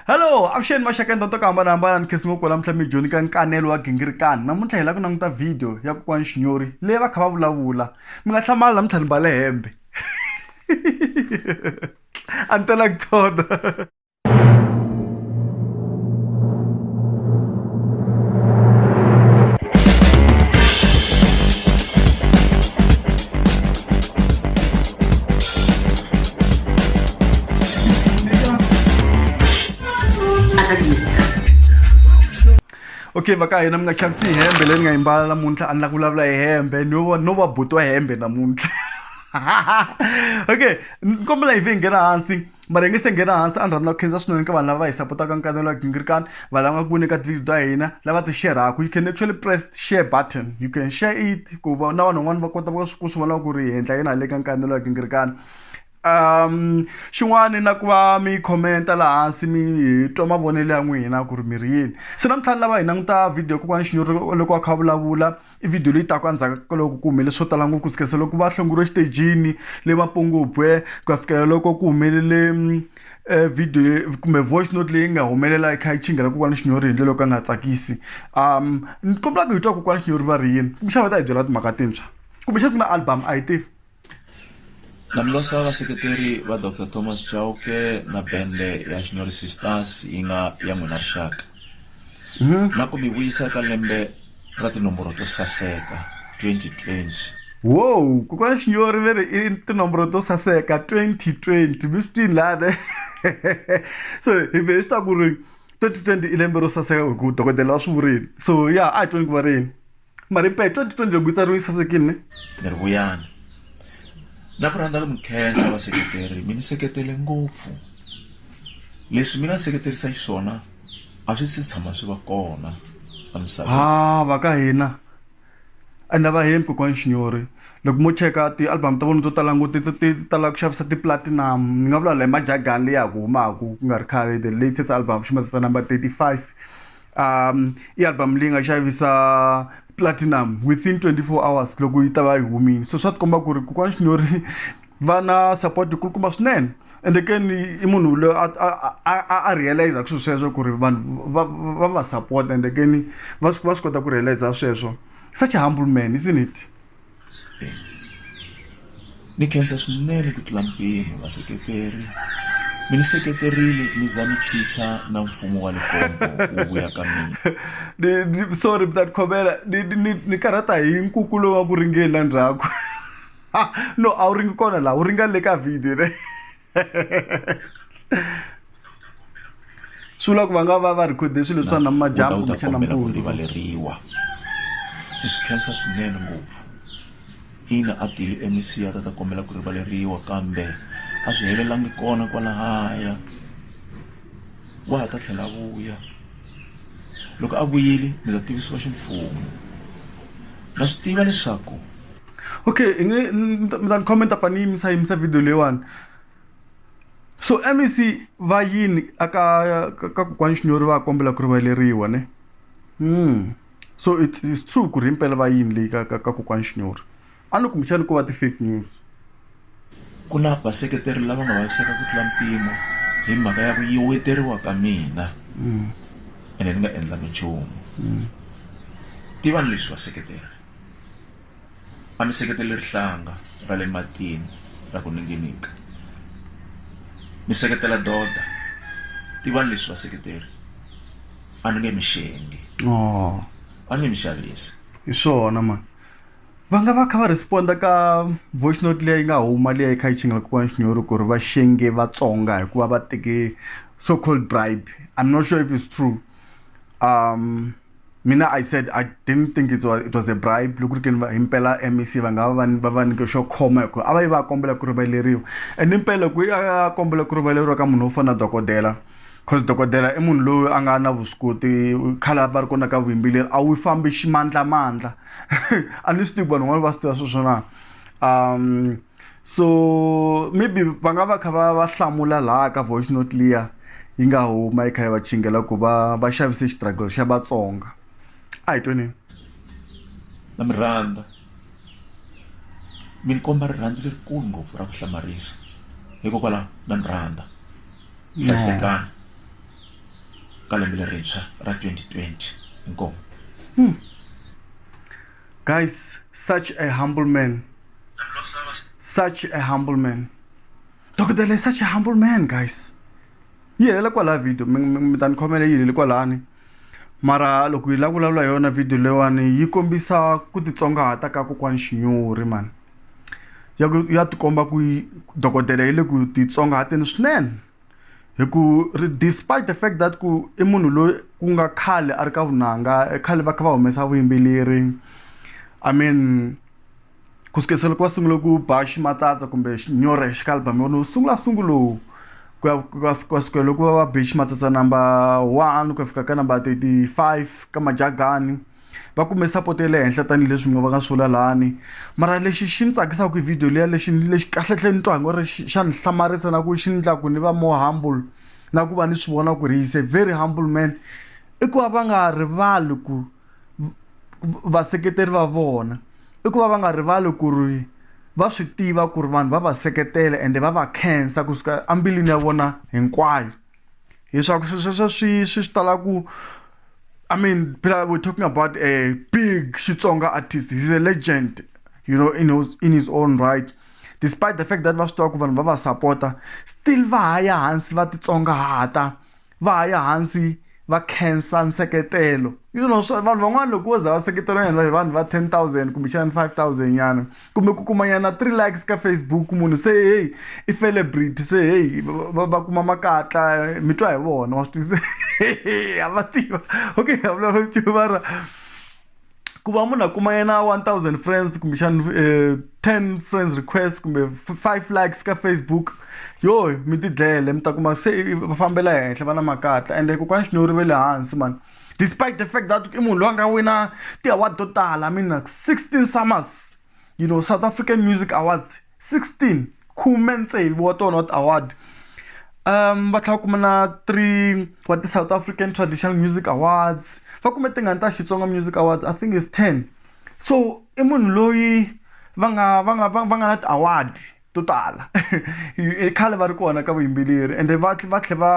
hello avuxeni maxaka ndonto ku hambanahambana ni khesi ngopfu lamuntlha mi dyoni ka nkanelo wa gingirikani namuntlha hi la ku languta vhidiyo ya kokwani xinyori leyi va kha va vulavula mi nga hlamali namuntlha ni mbale hembe a ni tela ku tona okay va ka hina mi nga chavisi hi hembe leyi ni nga yimbala namuntlha a ni la ku vulavula hi hembe no va no va butiwa hembe namuntlha okay ni kombela hi vhe hi nghena hansi mara hi nge se nghena hansi a ni rhandza ku khensa swinene ka vanhu lava va hi sapotaka nkanelo wa gingirikani vanhu lava nga ku voni ka tivhidiyo ta hina lava ti xerhaku you can actually press share button you can share it ku va na vanhu van'wana va kota ku swi vona ku ri hi endla yini hale ka nkanelo wa gingirikani um xin'wana na ku va mi commenta laha hansi mi twa mavonelo ya n'wina ku ri mi ri yini se namuntlha ni lava hi languta vhidiyo kokwana xinyori loko a kha a vulavula i video leyi taka endzhaku ka loko ku humelele swo tala ngopfu ku sukela loko va hlonguriwe exitejini le mapongobwe ku ya fikela loko ku humelele um video kumbe voice note leyi nga humelela yi kha yi chingela kokwana xinyori hi ndlela yo ka nga tsakisi um ni kombela ku hi twa kokwana xinyori va ri yini kumbexana va ta hi byela timhaka tintshwa kumbexana ku na album a hi tivi Na mi losa vaseketeri va Doctor Thomas Chauke na bende ya Xinyorisi Stars yi nga ya n'wina rixaka. Na ku mi vuyisa eka lembe ra tinomboro to saseka, 2020. Woow kokwana Xinyori ve ri i tinomboro to saseka 2020 mi swi twini lani so hi ve hi swi ta ku ri 2020 i lembe ro saseka hi ku dokodela wa swi vurile so ya a hi tweni ku va rini. marimpa hi 2020 loko yi tsariwe yi sasekile ne ni ri vuyani na ku rhandza ku mi khensa vaseketeri mi ni seketele ngopfu leswi mi nga seketerisa xiswona a swi si tshama swi va kona emisaveni ha va ka hina ende va hembi kokwani xinyori loko mo cheka ti-album ta vona to tala ngoti ti ti- ti tala ku xavisa ti-platinum ni nga vula la hi majagani leyi ya ku humaku ku nga ri khale the latest album xi mazisa number 35 um i album leyi nga xavisa platinum within 24 hours loko yi ta va yi humile so swa tikomba ku ri kokwana xinyori va na support yikulukumba swinene ende ke ni i munhu loyi a a- a- a- a realize ku swilo sweswo ku ri vanhu va va va support ende ke ni va swi va swi kota ku realize sweswo such a humble man isn't it ni khensa swinene ku tlula mpimo vaseketeri mi ni seketerile mi za mi chicha na mfumo wa likombo wu vuya ka mina sorry mtani khomela ni karhata hi nkuku lowu wa ku ringela ndzhaku no a wu ringi kona laha wu ringa le ka video ne swi vula ku va nga va va rekhode swilo swa na majambu kumbexana mpfula rivaleriwa i swi khensa swinene ngopfu ina a tile emisiya ta ta kombela ku rivaleriwa kambe a swi helelangi kona kwalahaya wa ha ta tlhela a vuya loko a vuyile mi ta tivisiwa ximfumo na swi tiva leswaku okay i nge mi ta mi ta ni comment a fane ni yimisa yimisa video leyiwani so mec va yini aka ka ka kokwani xinyori va kombela ku rivaleriwa ne mm. so it's, it's true ku ri himpela va yini leyi ka ka ka kokwani xinyori a ni kumbexani ko va ti-fake news ku na vaseketeri lava nga vaviseka ku tlula mpimo hi mhaka ya ku yiweteriwa ka mina ene ni nga endlangi nchumu tivani leswi vaseketeri A mi seketeli rihlanga ra le matini ra ku ninginika. Mi seketela doda. Tivani leswi vaseketeri. A ni nge mi xengi. Oh. A ni nge mi xavisi. Hi swona ma. Va nga va kha va responda ka voice note leyi nga huma leyi kha yi chingela kokwana Xinyori ku ri va xenge Vatsonga hikuva va teke so called bribe. I'm not sure if it's true. Um. mina i said i didn't think it was, it was a bribe loko ri ke ni himpela mec va nga va va va nyike xo khoma hikuva a va yi va kombela ku rivaleriwa and impela ku a kombela ku rivaleriwa ka munhu wo fana dokodela cause dokodela i munhu loyi a nga na vuswikoti khale va ri kona ka vuyimbeleri a wu fambi ximandlamandla a ni swi tivi vanhu van'wana va swi tiva sweswona um so maybe va nga va kha va va hlamula laha ka voice note liya yi nga huma yi kha yi va chingela ku va va xavise xitragelo xa vatsonga a hi tweni na mi rhandza mi ni komba rirhandzu lerikulu ngopfu ra ku hlamarisa hikokwalaho na ni rhandza hlayisekani ka lembe lerintshwa ra 2020 inkomo hmm. Guys, such a humble man. Such a humble man. Dokotela is such a humble man, guys. yi helela kwalaha video mi ta ni khomela yi heleli kwalani mara loko yi la vulavula hi yona video leyiwani yi kombisa ku titsongahata ka kokwani xinyori mani ya ku ya tikomba ku dokodela yi le ku titsongahateni swinene Hi ku ri despite the fact that ku i munhu loyi ku nga khale a ri ka vunanga khale va kha va humesa vuyimbeleri I mean ku sukisela loko va sungula ku ba ximatsatsa kumbe xinyora hi xikalubama u sungula sungulo ku ya ku ya ku ya sukela loko va va be ximatsatsa number one ku ya fika ka number thirty five ka Majagani. va kume support ya le henhla tanihileswi mi nga va nga swi vula lani mara lexi xi ni tsakisaka hi video liya lexi lexi kahlehle ni twa ngo ri xa ni hlamarisa na ku xi ni ku ni va more humble na ku va ni swi vona ku ri he's a very humble man i ku va va nga rivali ku vaseketeri va vona i ku va va nga rivali ku ri va swi tiva ku ri vanhu va va seketela ende va va khensa kusuka embilwini ya vona hinkwayo. leswaku swilo sweswo swi swi swi tala ku i mean phela we're talking about a big xitsonga artist he's a legend you know in his, in his own right despite the fact that va swi tiva ku vanhu va va sapota still va ha ya hansi va titsongahata va ha ya hansi va khensa nseketelo you know swa vanhu van'wana loko wo za va seketela vanhu va vanhu va ten thousand kumbexana five thousand nyana kumbe ku kuma nyana three likes ka Facebook munhu se heyi i celebrity se heyi va va kuma makatla mi twa hi vona wa swi twisisa ha va tiva okay ha vulavula nchumu mara ku va munhu a kuma yena one thousand friends kumbexana um ten friends request kumbe five likes ka Facebook yoh mi tidlele mi ta kuma se va fambela henhla va na makatla ende kokwani Xinyori va le hansi mani. despite the fact that i munhu loyi a nga wina ti-award to tala mi na sixteen summers you know south african music awards sixteen khume tsevu wa tona wa ti-award um va tlhela va kuma na three wa ti-south african traditional music awards va kume tingani ta xitsonga music awards i think is ten so i munhu loyi va nga va nga va va nga na ti-award. to tala i khale va ri kona ka vuyimbeleri ende va va tlhela va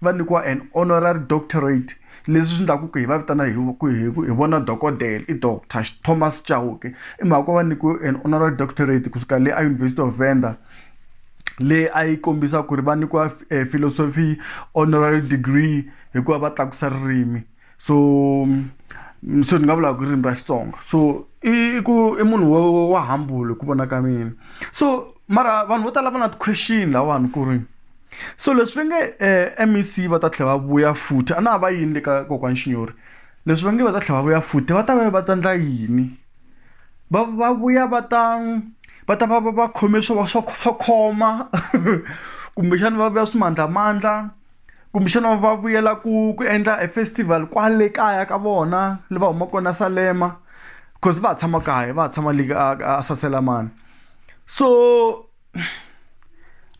va nyikiwa an honorary doctorate leswi swi endlaku ku hi va vitana hi ku hi ku hi vona dokodela i doctor Thomas Chauke i mhaka ku va nyikiwe an honorary doctorate kusuka le a University of Venda leyi a yi kombisa ku ri va nyikiwa philosophy honorary degree hikuva va tlakusa ririmi. so mm, so ni nga vulaka ku ririmi ra xitsonga so i ku i munhu wa wa hambule ku vona ka mina so mara vanhu vo tala va na ti-question lawani ku ri so leswi va nge um mec va ta tlhela va vuya futhi a na ha va yini le ka kokwani xinyori leswi va nge va ta tlhela va vuya futhi va ta va va ta endla yini va va vuya va ta va ta va va va khome swo va swa swa khoma kumbexani va vuya swimandlamandla kumbexana va vuyela ku ku endla e festival kwale kaya ka vona le va humaka kona Salema coz va ha tshama kaya va ha tshama le ka ka Saselamani so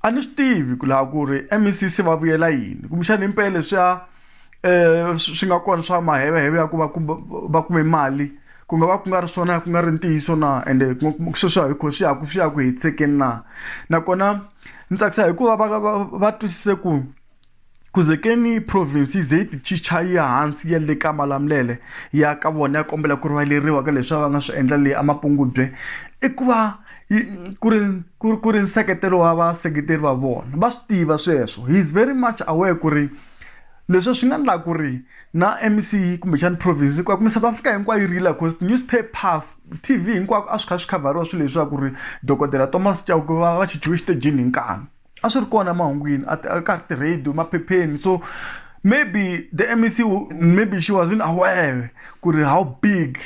a ni swi tivi ku laha ku ri M_E_C se va vuyela yini kumbexana himpela leswiya swi nga kona swa maheveheve ya ku va ku va kume mali ku nga va ku nga ri swona ku nga ri ntiyiso na ende sweswiya hi ku swi ya ku swi ya ku hetiseka na nakona. Ni tsakisa hikuva va va va twisise ku ku ze ke ni province yi ze yi ti chicha yi ya hansi yi ya le ka Malamulele ya ka vona ya kombela ku rivaleriwa ka leswi a va nga swi endla le eMapungubye i ku va yi ku ri ku ri ku ri nseketelo wa vaseketeri va vona va swi tiva sweswo he is very much aware ku ri leswi swi nga endlaka ku ri na M_C kumbexana province hinkwayo kumbe South Africa hinkwayo yi rila coz ti-newspaper. T_V hinkwako a swi kha swi khavhariwa swilo leswi swa ku ri dokodela Thomas Chauke va va khichiwe exitejini hi nkani a swi ri kona emahungwini a ka ha ri ti-radio maphepheni so maybe the M_E_C maybe she wasn't aware ku ri how big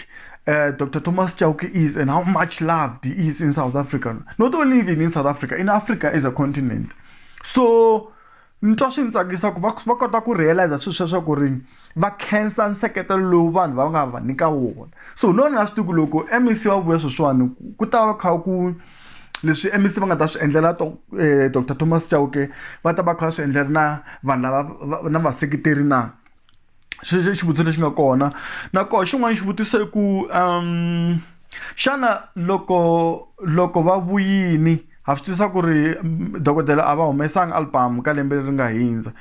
Doctor Thomas Chauke is and how much loved he is in South Africa not only even in South Africa in Africa as a continent so. Ni twa swi ni tsakisa ku va va kota ku realize swilo sweswo ku ri va khensa nseketelo lowu vanhu va nga va nyika wona so no ni nga swi tivi ku loko M_E_C va vuya sweswiwani ku ta va kha ku leswi M_E_C va nga ta swi endlela doctor Thomas Chauke va ta va kha va swi endlela na vanhu lava na vaseketeri na. sweswo i xivutiso lexi nga kona na koho xin'wana xivutiso i ku xana loko loko va vuyini ha swi tivisa ku ri dokodela a va humesanga album ka lembe leri nga hundza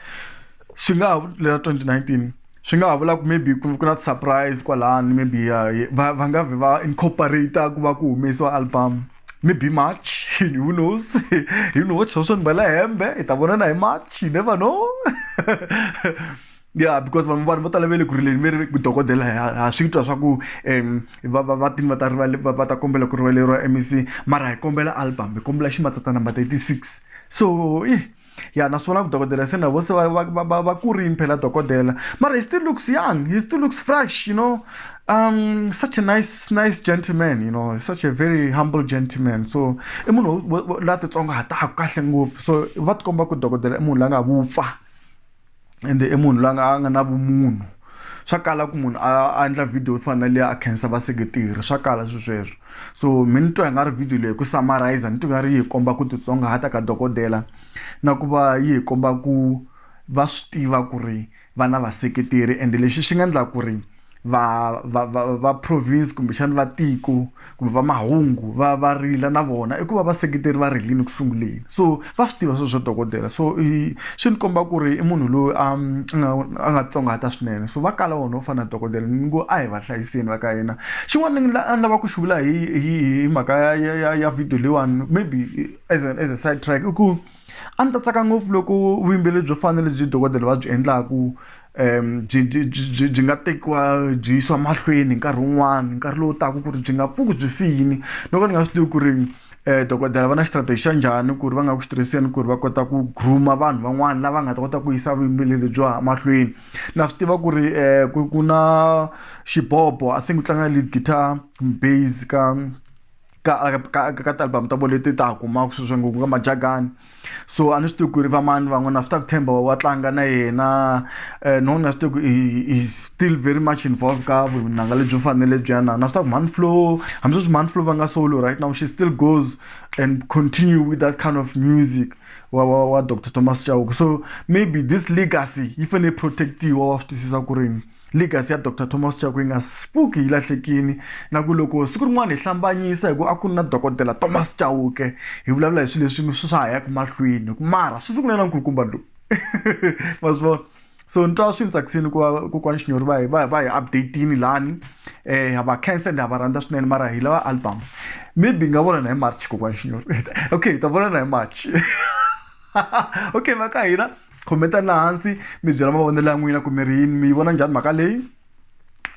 swi nga ha lero twenty nineteen swi nga ha vula ku maybe ku ku na ti-surprise kwalano maybe va va nga vhe va incorporate-a ku va ku humesiwa album. maybe march who knows you know sosho ndibala hembe hi ta vonana hi march you never know yeah because vanhu vanhu vo tala ve le ku rileni ve ri dokodela ha swi twa swa ku um va va va tini va ta rivale va ta kombela ku rivaleriwa mec mara hi kombela album hi kombela ximatsatsa number thirty six so ya naswona vudokodela se na vo se va va va va va kurini phela dokodela mara he still looks young he still looks fresh you know um such a nice nice gentleman you know such a very humble gentleman so i munhu la titsongahataka kahle ngopfu so va tikomba ku dokodela i munhu la nga vupfa. ende i munhu loyi a nga a nga na vumunhu swa kala ku munhu a endla video yo fana na liya a khensa vaseketeri swa kala swi sweswo so mi ni twa hi nga ri video leyi ku summarizer ni twa nga ri yi hi komba ku titsongahata ka dokodela na ku va yi hi komba ku va swi tiva ku ri va na vaseketeri ende lexi xi nga endla ku ri va va va va province kumbexana va tiko kumbe va mahungu va va rila na vona i ku va vaseketeri va rilini ku sunguleni so va swi tiva swo swa dokodela so i swi ni komba ku ri i munhu loyi a nga a nga tsongahata swinene so va kala wona wo fana na dokodela ni ngo a hi va hlayiseni va ka hina xin'wana ni a ni lava ku xi vula hi hi hi mhaka ya ya ya ya video leyiwani maybe as a as a side track i ku A ndzi ta tsaka ngopfu loko vuyimbeleri byo fana na lebyi dokodela va byi endlaka byi byi byi byi nga tekiwa byi yisiwa mahlweni nkarhi wun'wani nkarhi lowu taka ku ri byi nga pfuki byi file no ka ni nga swi tivi ku ri dokodela va na strategy xa njhani ku ri va nga ku swi tirhiseni ku ri va kota ku groom-a vanhu van'wani lava nga ta kota ku yisa vuyimbeleri lebyi wa ha mahlweni na swi tiva ku ri ku ku na xibobo I think ku tlanga lead guitar kumbe base ka. ka ka ka ka ti-album ta vo leti ta ha kumaka sweswi ngopfu ka Majakane so a ni swi tivi ku ri va mani van'wana swi ta ku tshemba wa tlanga na yena no na swi tivi ku i still very much involve ka vunanga lebyi fanele lebyiya na na swi tiva ku Mhani Flow hambi sweswi Mhani Flow va nga solo right now she still goes and continue with that kind of music wa wa wa doctor Thomas Chauke so maybe this legacy yi fanele yi protect-iwa wa swi twisisa ku ri yini. Legacy ya Doctor Thomas Chauke yi nga pfuki yi lahlekile. Na ku loko siku rin'wana hi hlambanyisa hikuva a ku ri na dokodela Thomas Chauke, hi vulavula hi swilo leswi swi swa ha yaka mahlweni. Hikuva mara swi sungule na nkulukumba lowu. Ma swi vona? So ni twa swi ni tsakisile ku va kokwani Xinyori va hi va va hi update-ile lani. Ha va khensa ende ha va rhandza swinene mara hi lava album. Maybe hi nga vonana hi March kokwani Xinyori. Okay hi ta vonana hi March. Okay va ka hina. comment-ani laha hansi mi byela mavonelo ya n'wina ku mi ri yini mi yi vona njhani mhaka leyi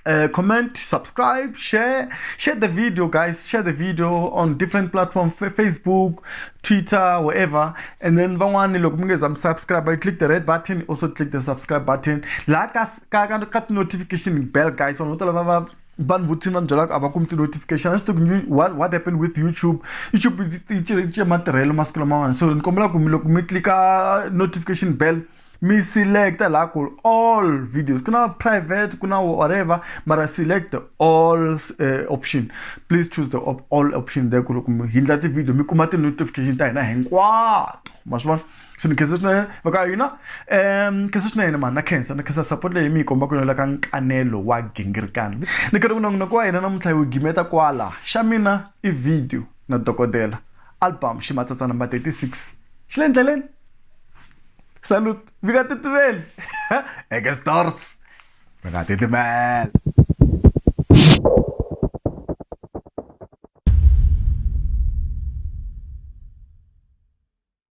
uh, comment subscribe share share the video guys share the video on different platform facebook twitter wherever and then van'wani loko mi nge za mi subscribe you click the red button also click the subscribe button laha ka ka ka ka ti-notification bell guys vanhu vo tala va va vanhu vo thin va ni byelaka a va kumi ti-notification a swi tivi ku what what happen with youtube youtube yi cince matirhelo masiku lamawani so ni kombela ku mi loko mi tlika notification bell mi select laha ku all videos ku na private ku na whatever mara select all uh, option please choose the op all option there ku loko mi hindla ti-video mi kuma ti-notification ta hina hinkwato ma swi vona so ni khensa swinene va ka hina um ni khensa swinene mani na khensa ni khensa support leyi mi yi komba ku yonela ka nkanelo wa gingirikana ni khensa ku nongonoko wa hina namuntlha yi wu gimeta kwala xa mina i video na dokodela album ximatsatsa number 36 xi le ndleleni salut mi nga titimeli eke stores mi nga titimeli